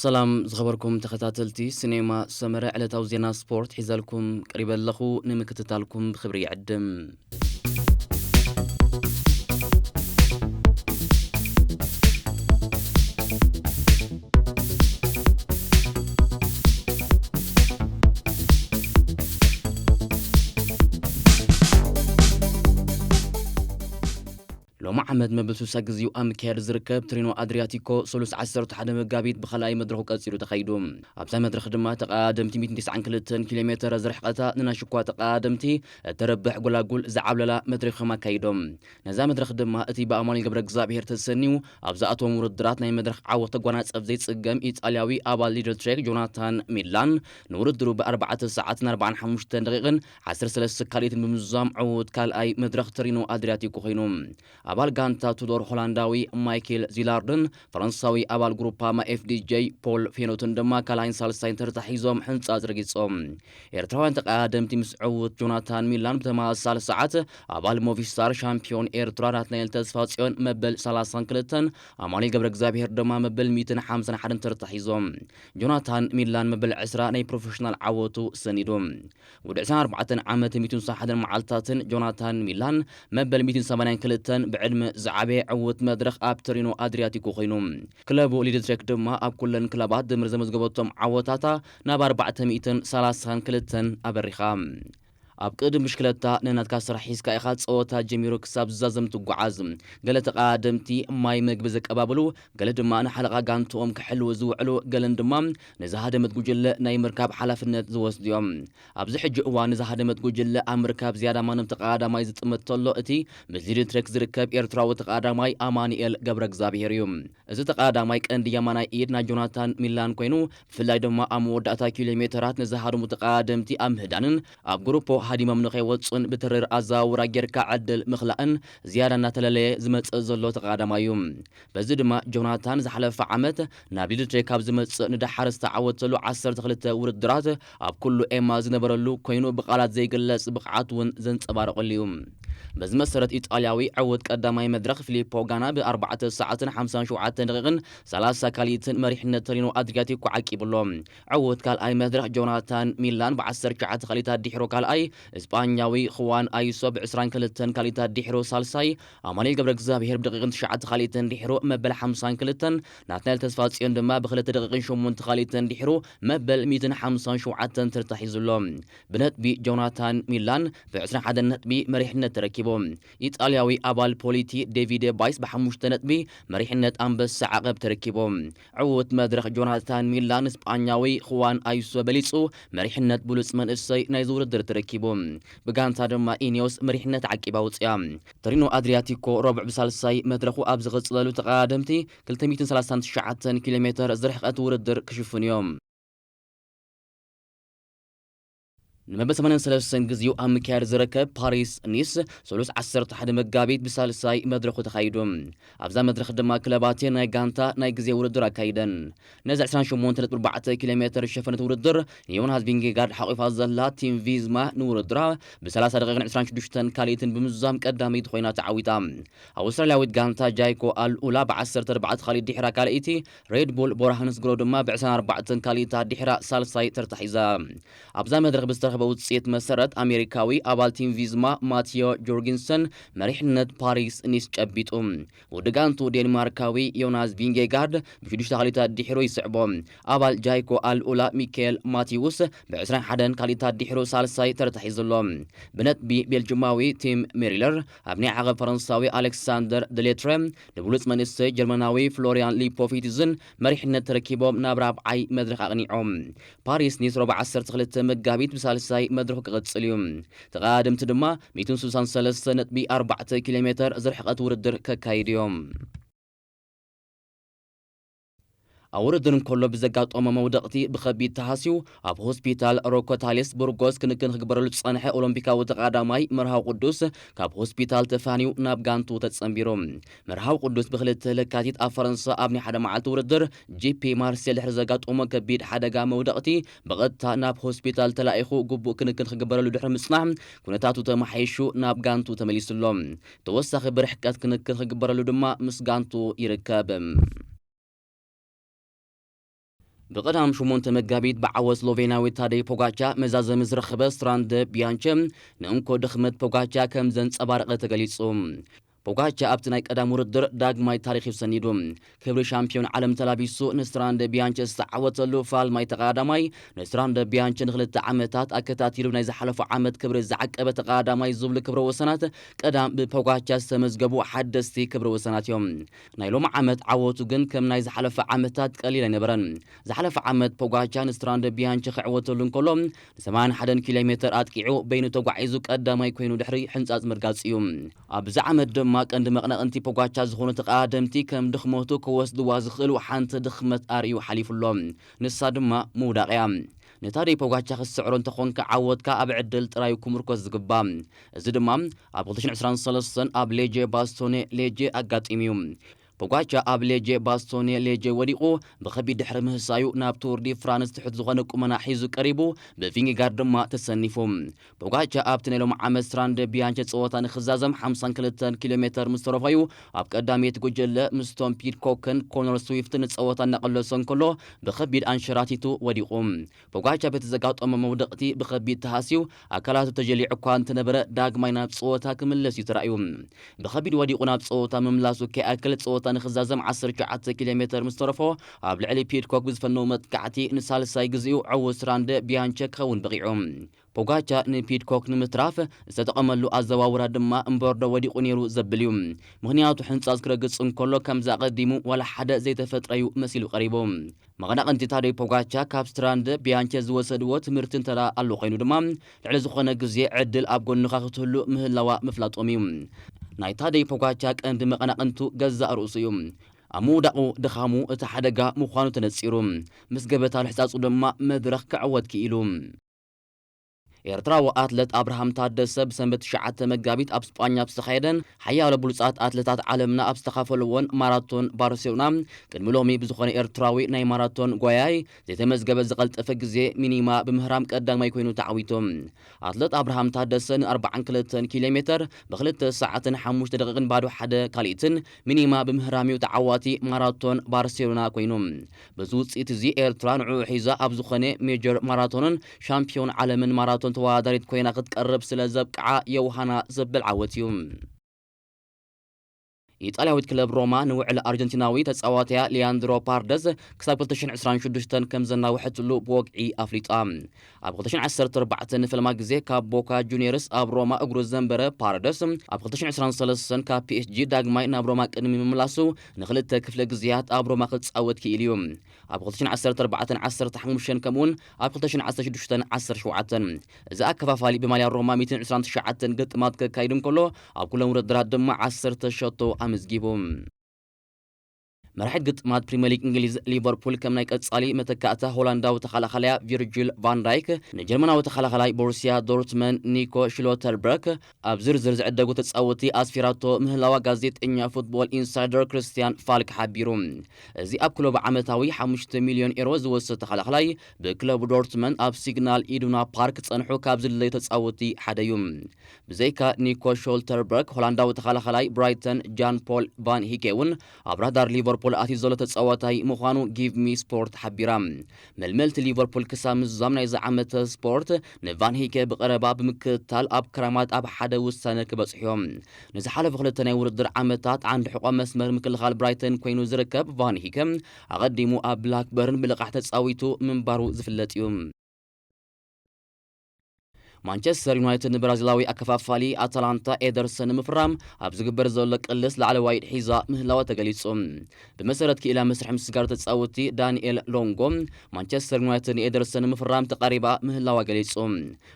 ሰላም ዝኸበርኩም ተኸታተልቲ ሲኔማ ሰመረ ዕለታዊ ዜና ስፖርት ሒዘልኩም ቀሪበ ኣለኹ ንምክትታልኩም ብክብሪ ይዕድም ሎሚ ዓመት መበል 60 ግዚኡ ኣብ ምክያድ ዝርከብ ትሪኖ ኣድሪያቲኮ ሰሉስ 11 መጋቢት ብካልኣይ መድረኹ ቀፂሉ ተኻይዱ ኣብዛ መድረኽ ድማ ተቐዳደምቲ 192 ኪሎ ሜተር ዝርሕቐታ ንናይ ሽኳ ተቐዳደምቲ እተረብሕ ጎላጉል ዝዓብለላ መድረኽ እዮም ኣካይዶም ነዛ መድረኽ ድማ እቲ ብኣማኑኤል ገብረእግዝኣብሄር ተሰንዩ ኣብ ዝኣተዎም ውርድራት ናይ መድረኽ ዓወት ተጓናጸፍ ዘይጽገም ኢጣልያዊ ኣባል ሊድል ትሬክ ጆናታን ሚላን ንውድድሩ ብ ኣርባዕተ ሰዓትን ኣርብዓን ሓሙሽተን ደቒቕን ዓሰርተ ሰለስተ ሰካሊትን ብምዝዛም ዕዉት ካልኣይ መድረኽ ተሪኖ ኣድርያቲኮ ኮይኑ። ኣባል ጋንታ ቱዶር ሆላንዳዊ ማይኬል ዚላርድን ፈረንሳዊ ኣባል ጉሩፓማ FDJ ፖል ፌኖትን ድማ ካልኣይን ሳልሳይን ተርታ ሒዞም ሕንጻጽ ረጊጾም። ኤርትራውያን ተቐዳደምቲ ምስ ዕዉት ጆናታን ሚላን ብተመሳሳሊ ሰዓት ኣባል ሞቪስታር ሻምፕዮን ኤርትራ ናትናኤል ተስፋጽዮን መበል ሰላሳን ክልተን ኣማኑኤል ገብረእግዚኣብሄር ድማ መበል ሚእትን ሓምሳን ሓደን ተርታ ሒዞም። ጆናታን ሚላን መበል ዕስራ ናይ ፕሮፈሽናል ዓወቱ ሰኒዱ። ውዲ ዕስራን ኣርባዕተን ዓመት ሚእቱን ሳሓትን መዓልትታትን ጆናታን ሚላን መበል ሚእቲን ሰማንያን ክልተን ብዕድመ ዝዓበየ ዕውት መድረኽ ኣብ ተሪኖ ኣድሪያቲኮ ኮይኑ። ክለቡ ሊድትሬክ ድማ ኣብ ኩለን ክለባት ድምር ዘመዝገበቶም ዓወታታ ናብ ኣርባዕተ ሚእትን ሰላሳን ክልተን ኣበሪኻ። ኣብ ቅድድም ብሽክለታ ነናትካ ስራሕ ሒዝካ ኢኻ ጸወታ ጀሚሩ ክሳብ ዝዛዘም ትጓዓዝ። ገለ ተቐዳደምቲ ማይ መግቢ ዘቀባብሉ፣ ገለ ድማ ንሓለቓ ጋንትኦም ክሕልዉ ዝውዕሉ ገለን ድማ ንዝሃደመት ጉጅለ ናይ ምርካብ ሓላፍነት ዝወስዱ'ዮም። ኣብዚ ሕጂ እዋን ንዝሃደመት ጉጅለ ኣብ ምርካብ ዝያዳ ማንም ተቐዳዳማይ ዝጥምት ተሎ እቲ ምስ ዚድንትሬክ ዝርከብ ኤርትራዊ ተቐዳዳማይ ኣማኑኤል ገብረእግዝኣብሄር'ዩ። እዚ ተቐዳዳማይ ቀንዲ የማናይ ኢድ ናይ ጆናታን ሚላን ኮይኑ ብፍላይ ድማ ኣብ መወዳእታ ኪሎሜተራት ንዝሃደሙ ተቐዳደምቲ ኣብ ምህዳንን ኣብ ጉሩፖ ሃዲሞም ንኸይወጹን ብትሪር ኣዘዋውራ ጌርካ ዕድል ምኽላእን ዝያዳ እናተለለየ ዝመጽእ ዘሎ ተቐዳዳማይ'ዩ። በዚ ድማ ጆናታን ዝሓለፈ ዓመት ናብ ሊድቼ ካብ ዝመጽእ ንደሓር ዝተዓወተሉ ዓሰርተ ክልተ ውድድራት ኣብ ኩሉ ኤማ ዝነበረሉ ኮይኑ ብቓላት ዘይግለጽ ብቕዓት ውን ዘንጸባረቐሉ እዩ። በዚ መሰረት ኢጣልያዊ ዕውት ቀዳማይ መድረኽ ፊሊፖ ጋና ብ ኣርባዕተ ሰዓትን ሓምሳን ሸውዓተን ደቒቕን ሰላሳ ካልኢትን መሪሕነት ተሪኖ ኣድሪያቲኮ ዓቂቡ ኣሎ። ዕውት ካልኣይ መድረኽ ጆናታን ሚላን ብ ዓሰርተ ትሽዓተ ካልኢት ኣዲሕሩ ካልኣይ፣ እስጳኛዊ ኹዋን ኣይሶ ብ ዕስራን ክልተን ካልኢት ኣዲሕሩ ሳልሳይ፣ ኣማኑኤል ገብረእግዚኣብሄር ብደቒቕን ትሽዓተ ካልኢትን ድሒሩ መበል ሓምሳን ክልተን፣ ናትናኤል ተስፋጽዮን ድማ ብክልተ ደቒቕን ሸሞንተ ካልኢትን ድሒሩ መበል ሚእትን ሓምሳን ሸውዓተን ተርታ ሒዙ ኣሎ። ብነጥቢ ጆናታን ሚላን ብዕስራን ሓደን ነጥቢ መሪሕነት ተረኪቡ። ኢጣልያዊ ኣባል ፖሊቲ ዴቪደ ባይስ ብሓሙሽተ ነጥቢ መሪሕነት ኣንበሳ ዓቐብ ተረኪቡ። ዕዉት መድረኽ ጆናታን ሚላ ንስጳኛዊ ኹዋን ኣዩሶ በሊጹ መሪሕነት ብሉጽ መንእሰይ ናይዚ ውድድር ተረኪቡ። ብጋንታ ድማ ኢኔዎስ መሪሕነት ዓቂባ ኣውጺኣ። ቶሪኖ ኣድሪያቲኮ ረቡዕ ብሳልሳይ መድረኹ ኣብ ዝቕጽለሉ ተቐዳደምቲ ክልተ ሚእትን ሰላሳን ትሽዓተን ኪሎሜተር ዝርሕቐት ውድድር ክሽፍኑ'ዮም። ንመበል ሰማንያን ሰለስተን ግዜኡ ኣብ ምክያድ ዝርከብ ፓሪስ ኒስ ሰሉስ ዓሰርተ ሓደ መጋቢት ብሳልሳይ መድረኹ ተኻይዱ። ኣብዛ መድረኽ ድማ ክለባት'የን ናይ ጋንታ ናይ ግዜ ውድድር ኣካይደን። ነዚ ዕስራን ሸሞንተን ነጥቢ ኣርባዕተ ኪሎ ሜተር ዝሸፈነት ውድድር ንዮናስ ቪንጌጋርድ ሓቝፋ ዘላ ቲም ቪዝማ ንውድድራ ብሰላሳ ደቒቕን ዕስራን ሽዱሽተን ካልኢትን ብምዝዛም ቀዳመይቲ ኾይና ተዓዊታ። ኣውስትራልያዊት ጋንታ ጃይኮ ኣል ኡላ ብዓሰርተ ኣርባዕተ ካልኢት ድሒራ ካልኣይቲ፣ ሬድ ቡል ቦርሃንስግሮ ድማ ብ ዕስራን ኣርባዕተን ካልኢታ ድሒራ ሳልሳይ ተርታ ሒዛ። ኣብዛ መድረኽ ብዝተረኽበ ውጽኢት መሰረት ኣሜሪካዊ ኣባል ቲም ቪዝማ ማትዮ ጆርጊንሰን መሪሕነት ፓሪስ ኒስ ጨቢጡ። ወዲ ጋንትኡ ዴንማርካዊ ዮናስ ቪንጌጋርድ ብ ሽዱሽተ ካልኢታት ድሒሩ ይስዕቦ። ኣባል ጃይኮ ኣል ኡላ ሚካኤል ማቲውስ ብ ዕስራን ሓደን ካልኢታት ድሒሩ ሳልሳይ ተርታ ሒዙ ኣሎ። ብነጥቢ ቤልጁማዊ ቲም ሜሪለር ኣብ ናይ ዓቐብ ፈረንሳዊ ኣሌክሳንደር ደሌትረ ንብሉጽ መንእሰይ ጀርመናዊ ፍሎርያን ሊፖፊትዝን መሪሕነት ተረኪቦም ናብ ራብዓይ መድረኽ ኣቕኒዖም። ፓሪስ ኒስ ሮብ ዓሰርተ ክልተ መጋቢት ብሳልሳይ መድረኹ ክቕጽል እዩ። ተቐዳደምቲ ድማ ሚእትን ስልሳን ሰለስተ ነጥቢ ኣርባዕተ ኪሎሜተር ዝርሕቐት ውድድር ከካይዱ እዮም። ኣብ ውድድር እንከሎ ብዘጋጠሞ መውደቕቲ ብኸቢድ ተሃስዩ ኣብ ሆስፒታል ሮኮታሊስ ቡርጎስ ክንክን ክግበረሉ ዝጸንሐ ኦሎምፒካዊ ተቓዳማይ መርሃዊ ቅዱስ ካብ ሆስፒታል ተፋንዩ ናብ ጋንትኡ ተጸንቢሩ። መርሃዊ ቅዱስ ብክልተ ለካቲት ኣብ ፈረንሳ ኣብ ናይ ሓደ መዓልቲ ውድድር ጂፒ ማርሴል ድሕሪ ዘጋጠሞ ከቢድ ሓደጋ መውደቕቲ ብቐጥታ ናብ ሆስፒታል ተላኢኹ ግቡእ ክንክን ክግበረሉ ድሕሪ ምጽናሕ ኩነታቱ ተመሓይሹ ናብ ጋንትኡ ተመሊሱ'ሎ። ተወሳኺ ብርሕቀት ክንክን ክግበረሉ ድማ ምስ ጋንቱ ይርከብ። ብቐዳም ሸሞንተ መጋቢት ብዓወት ስሎቬንያዊ ታደይ ፖጋቻ መዛዘሚ ዝረኸበ ስትራንደ ቢያንቸ ንእንኮ ድኽመት ፖጋቻ ከም ዘንጸባረቐ ተገሊጹ። ፖጋቻ ኣብቲ ናይ ቀዳም ውድድር ዳግማይ ታሪኽ እዩ ሰኒዱ። ክብሪ ሻምፕዮን ዓለም ተላቢሱ ንስትራንደ ቢያንቸ ዝተዓወተሉ ፋልማይ ተቐዳዳማይ፣ ንስትራንደ ቢያንቸ ንክልተ ዓመታት ኣከታቲሉ ናይ ዝሓለፉ ዓመት ክብሪ ዝዓቀበ ተቐዳዳማይ ዝብሉ ክብረ ወሰናት ቀዳም ብፖጋቻ ዝተመዝገቡ ሓደስቲ ክብረ ወሰናት እዮም። ናይ ሎሚ ዓመት ዓወቱ ግን ከም ናይ ዝሓለፈ ዓመታት ቀሊል ኣይነበረን። ዝሓለፈ ዓመት ፖጋቻ ንስትራንደ ቢያንቸ ክዕወተሉ እንከሎ ንሰማንያን ሓደን ኪሎሜተር ኣጥቂዑ በይኑ ተጓዒዙ ቀዳማይ ኮይኑ ድሕሪ ሕንጻጽ ምርጋጹ እዩ። ኣብዚ ዓመት ድማ ቀንዲ መቕነቕንቲ ፖጋቻ ዝኾኑ ተቓደምቲ ከም ድኽመቱ ክወስድዋ ዝኽእሉ ሓንቲ ድኽመት ኣርእዩ ሓሊፉ ኣሎ። ንሳ ድማ ምውዳቕ እያ። ንታደይ ፖጋቻ ክትስዕሮ እንተኾንካ ዓወትካ ኣብ ዕድል ጥራይ እዩ ክምርኮስ ዝግባእ። እዚ ድማ ኣብ ክልተ ሽሕን ዕስራን ሰለስተን ኣብ ሌጄ ባስቶኔ፣ ሌጄ፣ ኣጋጢሙ እዩ። ፖጋቻ ኣብ ሌጄ ባስቶኔ ሌጄ ወዲቑ ብኸቢድ ድሕሪ ምህሳዩ ናብ ቱር ዲ ፍራንስ ትሑት ዝኾነ ቁመና ሒዙ ቀሪቡ ብቪንጌጋርድ ድማ ተሰኒፉ። ፖጋቻ ኣብቲ ናይ ሎሚ ዓመት ስትራንደ ቢያንቸ ጸወታ ንኽዛዘም ሓምሳን ክልተን ኪሎ ሜተር ምስ ተረፎ'ዩ ኣብ ቀዳመይቲ ጉጀለ ምስ ቶም ፒድኮክን ኮነር ስዊፍትን ንጸወታ እናቐለሶ እንከሎ ብኸቢድ ኣንሸራቲቱ ወዲቑ። ፖጋቻ በቲ ዘጋጠሞ መውደቕቲ ብኸቢድ ተሃስዩ ኣካላቱ ተጀሊዑ እኳ እንተነበረ ዳግማይ ናብ ጸወታ ክምለስ እዩ ተራእዩ። ብኸቢድ ወዲቑ ናብ ጸወታ ምምላሱ ከይኣክል ጸወታ ንኽዛዘም ዓሰርተ ሸውዓተ ኪሎ ሜተር ምስ ተረፎ ኣብ ልዕሊ ፒድኮክ ብዝፈነዎ መጥቃዕቲ ንሳልሳይ ግዜኡ ዕዉት ራንደ ቢያንቸክ ክኸውን በቒዑ። ፖጋቻ ንፒድኮክ ንምትራፍ ዝተጠቐመሉ ኣዘዋውራ ድማ እምበርዶ ወዲቑ ነይሩ ዘብል እዩ። ምኽንያቱ ሕንጻጽ ክረግጽ እንከሎ ከምዚ ኣቐዲሙ ዋላ ሓደ ዘይተፈጥረ'ዩ መሲሉ ቀሪቡ። መቐናቕንቲ ታደይ ፖጋቻ ካብ ስትራንደ ቢያንቸ ዝወሰድዎ ትምህርቲ እንተድኣ ኣሎ ኮይኑ ድማ ልዕሊ ዝኾነ ግዜ ዕድል ኣብ ጎንኻ ክትህሉ ምህላዋ ምፍላጦም እዩ። ናይ ታደይ ፖጋቻ ቀንዲ መቐናቕንቱ ገዛእ ርእሱ እዩ። ኣብ ምውዳቑ ድኻሙ እቲ ሓደጋ ምዃኑ ተነጺሩ ምስ ገበታ ልሕጻጹ ድማ መድረኽ ክዕወት ክኢሉ። ኤርትራዊ ኣትለት ኣብርሃም ታደሰ ብሰንበት ትሽዓተ መጋቢት ኣብ ስጳኛ ኣብ ዝተኻየደን ሓያሎ ብሉጻት ኣትለታት ዓለምና ኣብ ዝተኻፈሉዎን ማራቶን ባርሴሎና ቅድሚ ሎሚ ብዝኾነ ኤርትራዊ ናይ ማራቶን ጓያይ ዘይተመዝገበ ዝቐልጠፈ ግዜ፣ ሚኒማ፣ ብምህራም ቀዳማይ ኮይኑ ተዓዊቱ። ኣትለት ኣብርሃም ታደሰ ን ኣርብዓን ክልተን ኪሎሜተር ብ ክልተ ሰዓትን ሓሙሽተ ደቒቕን ባዶ ሓደ ካልኢትን፣ ሚኒማ፣ ብምህራም'ዩ ተዓዋቲ ማራቶን ባርሴሎና ኮይኑ። በዚ ውፅኢት እዚ ኤርትራ ንዕኡ ሒዛ ኣብ ዝኾነ ሜጀር ማራቶንን ሻምፕዮን ዓለምን ማራቶን ተወዳዳሪት ኮይና ክትቀርብ ስለ ዘብቅዓ ዮውሃና ዘብል ዓወት እዩ። ኢጣልያዊት ክለብ ሮማ ንውዕል ኣርጀንቲናዊ ተጻዋታያ ሊያንድሮ ፓርደዝ ክሳብ ክልተ ሽሕን ዕስራን ሽዱሽተን ከምዘናውሐትሉ ብወግዒ ኣፍሊጣ። ኣብ ክልተ ሽሕን ዓሰርተ ኣርባዕተን ንፈለማ ግዜ ካብ ቦካ ጁንየርስ ኣብ ሮማ እግሩ ዘንበረ ፓረደስ፣ ኣብ ክልተ ሽሕን ዕስራን ሰለስተን ካብ ፒኤስጂ ዳግማይ ናብ ሮማ ቅድሚ ምምላሱ ንኽልተ ክፍለ ግዜያት ኣብ ሮማ ክጻወት ክኢሉ እዩ። ኣብ ክልተ ሽሕን ዓሰርተ ኣርባዕተን ዓሰርተ ሓሙሽተን ከምኡ'ውን ኣብ ክልተ ሽሕን ዓሰርተ ሽዱሽተን ዓሰርተ ሸውዓተን እዚ ኣከፋፋሊ ብማልያ ሮማ ሚእትን ዕስራን ትሽዓተን ግጥማት ከካይድ እንከሎ፣ ኣብ ኩለን ውድድራት ድማ ዓሰርተ ሸቶ ኣመዝጊቡ። መራሒት ግጥማት ፕሪመሊግ እንግሊዝ ሊቨርፑል ከም ናይ ቀጻሊ መተካእታ ሆላንዳዊ ተኸላኻላያ ቪርጂል ቫንዳይክ ንጀርመናዊ ተኸላኻላይ ቦሩስያ ዶርትመን ኒኮ ሽሎተርበርክ ኣብ ዝርዝር ዝዕደጉ ተጻወቲ ኣስፊራቶ ምህላዋ ጋዜጠኛ ፉትቦል ኢንሳይደር ክርስትያን ፋልክ ሓቢሩ። እዚ ኣብ ክለቡ ዓመታዊ ሓሙሽተ ሚልዮን ኤሮ ዝወስድ ተኸላኻላይ ብክለቡ ዶርትመን ኣብ ሲግናል ኢዱና ፓርክ ጸንሑ ካብ ዝድለዩ ተጻወቲ ሓደዩ። ብዘይካ ኒኮ ሾልተርበርግ፣ ሆላንዳዊ ተኸላኻላይ ብራይተን ጃን ፖል ቫን ሂኬ'ውን ኣብ ራዳር ሊቨርፑል ኣትዩ ዘሎ ተጻዋታይ ምዃኑ ጊቭሚስፖርት ሓቢራ። መልመልቲ ሊቨርፑል ክሳብ ምዝዛም ናይዚ ዓመተ ስፖርት ንቫን ሂኬ ብቐረባ ብምክትታል ኣብ ክረማት ኣብ ሓደ ውሳነ ክበጽሑ'ዮም። ንዝሓለፉ ክልተ ናይ ውድድር ዓመታት ዓንዲ ሕቖ መስመር ምክልኻል ብራይተን ኰይኑ ዝርከብ ቫን ሂከ፣ ኣቐዲሙ ኣብ ብላክበርን ብልቓሕ ተጻዊቱ ምንባሩ ዝፍለጥ'ዩ። ማንቸስተር ዩናይትድ ንብራዚላዊ ኣከፋፋሊ ኣታላንታ ኤደርሰን ንምፍራም ኣብ ዝግበር ዘሎ ቅልስ ላዕለዋይ ኢድ ሒዛ ምህላዋ ተገሊጹ። ብመሰረት ክኢላ መስርሕ ምስጋር ተጻወትቲ ዳንኤል ሎንጎ፣ ማንቸስተር ዩናይትድ ንኤደርሰን ንምፍራም ተቓሪባ ምህላዋ ገሊጹ።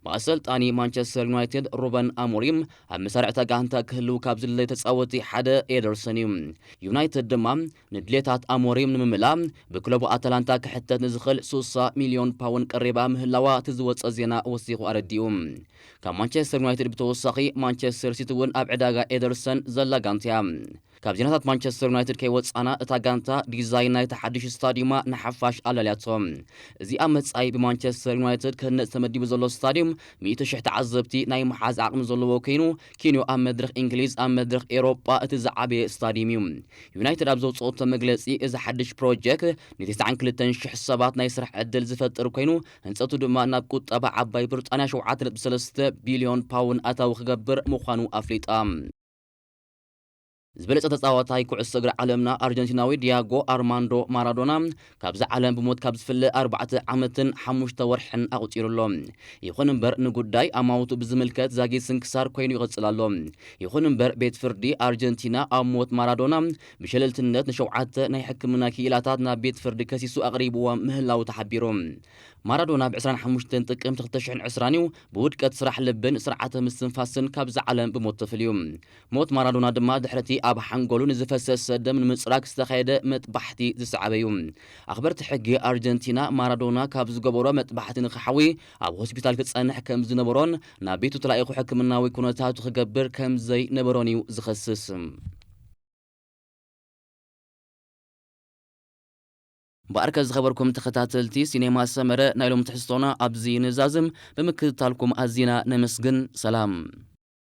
ብኣሰልጣኒ ማንቸስተር ዩናይትድ ሩበን ኣሞሪም ኣብ መሳርዕታ ጋንታ ክህልው ካብ ዝድለዩ ተጻወትቲ ሓደ ኤደርሰን እዩ። ዩናይትድ ድማ ንድሌታት ኣሞሪም ንምምላእ ብክለቡ ኣታላንታ ክሕተት ንዝኽእል ስሳ ሚልዮን ፓውን ቀሪባ ምህላዋ እቲ ዝወጸ ዜና ወሲኹ ኣረዲኡ። ካብ ማንቸስተር ዩናይትድ ብተወሳኺ ማንቸስተር ሲቲ እውን ኣብ ዕዳጋ ኤደርሰን ዘላ ጋንታ እያ። ካብ ዜናታት ማንቸስተር ዩናይትድ ከይወጻና እታ ጋንታ ዲዛይን ናይቲ ሓድሽ ስታድዩማ ንሓፋሽ ኣላልያቶ። እዚ ኣብ መጻኢ ብማንቸስተር ዩናይትድ ክህነጽ ተመዲቡ ዘሎ ስታድዩም ሚእቲ ሽሕ ተዓዘብቲ ናይ ምሓዝ ዓቕሚ ዘለዎ ከይኑ ኪንዮ ኣብ መድረኽ እንግሊዝ ኣብ መድረኽ ኤሮጳ እቲ ዝዓበየ ስታድዩም እዩ። ዩናይትድ ኣብ ዘውጽኦቶ መግለጺ እዚ ሓድሽ ፕሮጀክት ንተስዓን ክልተን ሽሕ ሰባት ናይ ስራሕ ዕድል ዝፈጥር ኮይኑ ህንጸቱ ድማ ናብ ቁጠባ ዓባይ ብርጣንያ ሸውዓተ ነጥቢ ሰለስተ ቢልዮን ፓውን ኣታዊ ክገብር ምዃኑ ኣፍሊጣ። ዝበለጸ ተጻዋታይ ኩዕሶ እግሪ ዓለምና ኣርጀንቲናዊ ዲያጎ ኣርማንዶ ማራዶና ካብዛ ዓለም ብሞት ካብ ዝፍለ ኣርባዕተ ዓመትን ሓሙሽተ ወርሕን ኣቑጺሩ ኣሎ። ይኹን እምበር ንጉዳይ ኣማውቱ ብዝምልከት ዛጊት ስንክሳር ኮይኑ ይቕጽል ኣሎ። ይኹን እምበር ቤት ፍርዲ ኣርጀንቲና ኣብ ሞት ማራዶና ብሸለልትነት ንሸውዓተ ናይ ሕክምና ክኢላታት ናብ ቤት ፍርዲ ከሲሱ ኣቕሪብዎም ምህላዉ ተሓቢሩ። ማራዶና ብ ዕስራን ሓሙሽተን ጥቅምቲ ክልተ ሽሕን ዕስራን እዩ ብውድቀት ስራሕ ልብን ስርዓተ ምስትንፋስን ካብዛ ዓለም ብሞት ተፈልዩ። ሞት ማራዶና ድማ ድሕሪ'ቲ ኣብ ሓንጎሉ ንዝፈሰሰ ደም ንምጽራግ ዝተኻየደ መጥባሕቲ ዝሰዓበ'ዩ። ኣኽበርቲ ሕጊ ኣርጀንቲና፣ ማራዶና ካብ ዝገበሮ መጥባሕቲ ንኽሓዊ ኣብ ሆስፒታል ክጸንሕ ከም ዝነበሮን ናብ ቤቱ ተላኢኹ ሕክምናዊ ኩነታቱ ክገብር ከም ዘይነበሮን'ዩ ዝኸስስ። እምበኣርከ ዝኸበርኩም ተኸታተልቲ ሲኔማ ሰመረ ናይ ሎሚ ትሕዝቶና ኣብዚ ንዛዝም፣ ብምክትታልኩም ኣዚና ነመስግን። ሰላም!